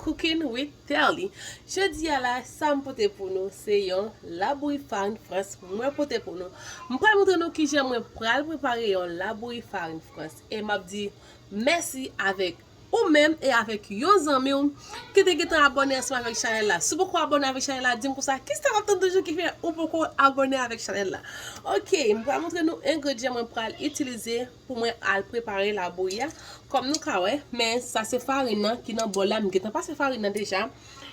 Cooking with Terly Jodi a la sa m pote pou nou se yon labouyi farin frans mwen pote pou nou M pral montre nou kijan mwen pral prepare yon labouyi farin frans e m ap di mèsi avèk ou menm e avèk yon zanmi w ki te gentan abòne ansanm avèk chanèl la Si w poko abòne avèk chanèl la di m konsa kisa w ap tann toujou ki fè ou poko abòne avèk chanèl la Ok m pral montre nou engredyan mwen pral itilize pou mwen al prepare labouyi a kòm nou ka wè men sa se farin nan ki nan bòl la m gentan pase farin nan deja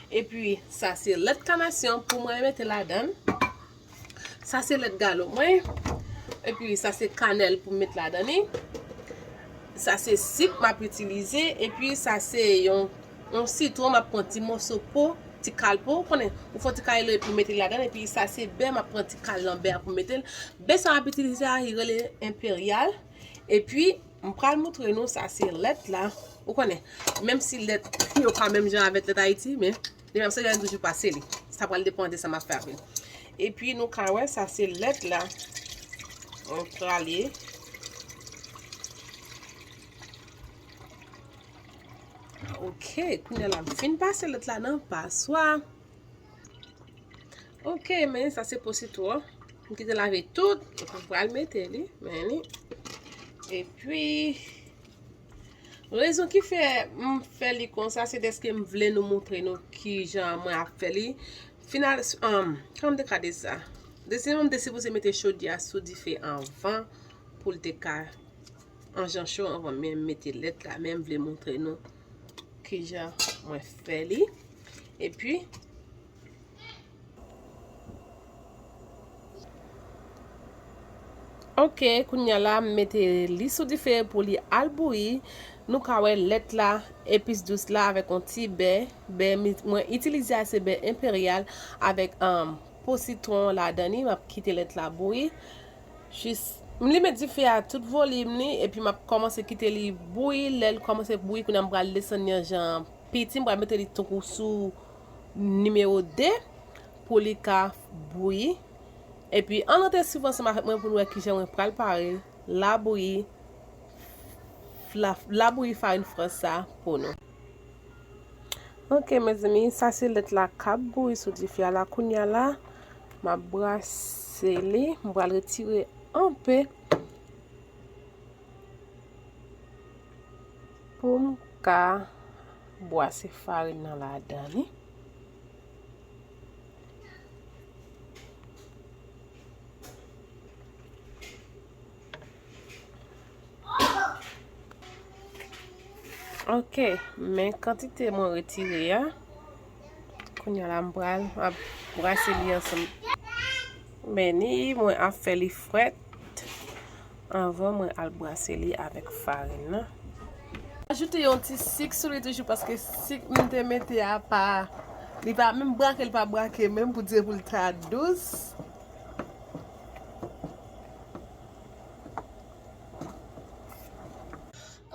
epi sa se lèt kanasyon pou mwen mete ladann sa se lèt galo mwen epi sa se kanèl pou m met ladann li sa se sik m ap itilize epi sa se yon yon sitwon map pran ti moso po ti kal po ou konnen ou fon ti kal epi metel ladann epi sa se bè map pran ti kal nan bè a pou metel bè sa map itilize a li rele imperial epi m pral moutre nou sa se lèt la ou konnen menm si lèt yo pa menm jan avèk lèt ayiti men li menm se lèm toujou pase li sa pral depan de sa map fè avèl epi nou ka wè sa se lèt la m prale Ok, kounye la m fin pase lòt la nan paswa. Ok, men sa se positò. M kite lave tout, e pou pral mete li, men li. E pi, rezon ki fè m fè li konsa, se deske m vle nou moutre nou ki jan mwen ap fè li. Final, anm, kòm de kade sa. Desi m te sipoze mete chodiya sou dife anvan pou l te ka. An jan cho anvan menm mete lèt la menm vle montre nou ki jan mwen fè li. E pi Ok, kounya la m mete li sou dife pou li al bouyi. Nou ka wè lèt la, epis dous la avèk yon ti bè. Bè mwen itilize a se bè enperyal avèk po sitwon ladan li. M ap kite lèt la bouyi. Jis M limen dife a tout volim li epi map kòmanse kite li bouyi lèl kòmanse bouyi kounya m pral desann li an jan an piti m pral mete li tankou sou nimewo 2 pou li ka bouyi epi ann rete swiv ansanm avèk mwen pou n wè kijan mwen pral pare labouyi labouyi farin frans sa pou nou. Ok mezanmi sa se lèt la kap bouyi sou dife a la kounya la map brase li m pral retire anpe poum ka bwase farin nan ladan li Ok, men kantite mwen retire ya. Koun ya la mbral, ap brase li ansan. Men ni mwen ap fè li fwet. Anvan mwen al brase li avèk farin nan. Ajoute yon ti sik sou li toujou paske sik mwen te mete ya pa. Li pa menm brake, li pa brake menm pou dire pou li ta dous.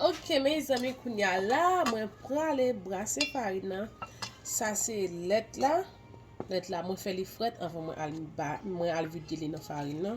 Ok mezanmi kounya la mwen prale brase farin nan Sa se lèt la Lèt la mwen fè li frèt avan mwen al ba mwen al vide li nan farin nan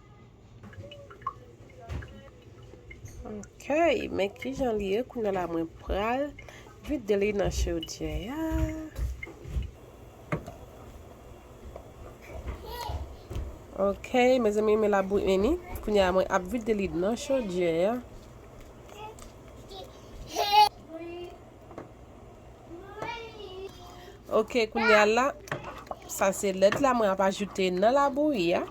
Ok, men ki jan li ye kounye la mwen pral vide li nan chodyè ya. Ok, men zanmi men la bouyi ni, kounye la mwen ap vide li nan chodyè ya. Ok kounye a la Sa se lèt la mwen ap ajoute nan la bouyi a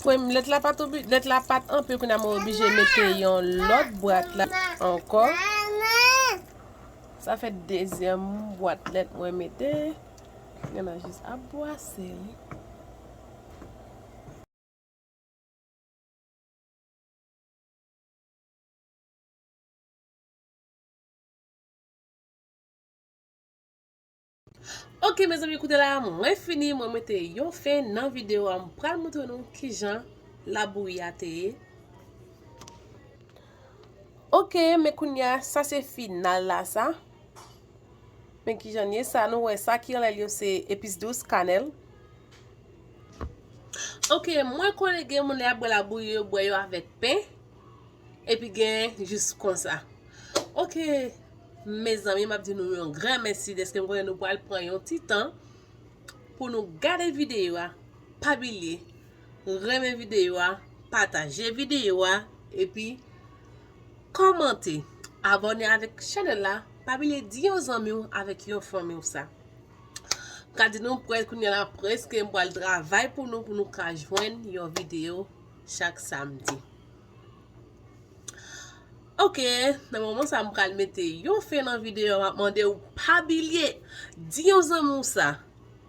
Pwen lèt la pat obi Lèt la pat anpe kounye a mwen oblije mete yon lòt bwat la Ankò Sa fè dezyèm bwat lèt mwen mete Nana jis ap bwase wi. Ok mezanmi koute la mwen fini mwen mete yon fen nan video a m pral moutre nou kijan labouyi a te ye. Ok men kounya sa se final la sa. Men kijan li ye, sa nou wè sa ki anlèl yo se epis dous, kanèl. Ok mwen konnen gen moun lè yap bwè labouyi yo bwè yo avèk pen epi gen jis konsa ok mezanmi map di nou yon gran mèsi deske m konnen nou pral pran yon ti tan pou nou gade videyo a pa bilye renmen videyo a pataje videyo a epi Kòmante, abòne avèk chanèl la, pa bliye di yon zanmi w avèk yon fanmi w sa. M ka di nou prèt kounye la prèske m pral travay pou nou pou nou ka jwenn yon videyo chak samdi. Ok, nan moman sa m pral mete yon fen nan videyo a, map mande w pa bliye di yon zanmi w sa.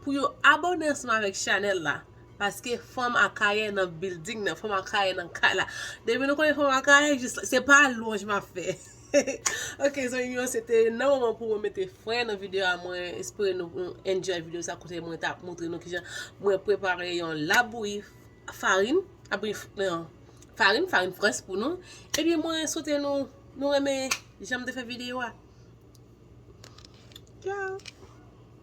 Pou yo abone ansanm avèk chanèl la. Paske fanm akayè nan bilding nan. Fanm akayè nan kay la. Depi nou konnen fanm akayè jis la. Se pa lwanj map fè. Ok zanmi m yo se te nan moman pou mwen mete fren nan video a mwen espere nou enjoy video sa kote mwen tap montre nou kijan mwen prepare yon labouyi farin labouyi farin farin frans pou nou epi mwen swete nou nou renmen janm te fè video a. Tchao.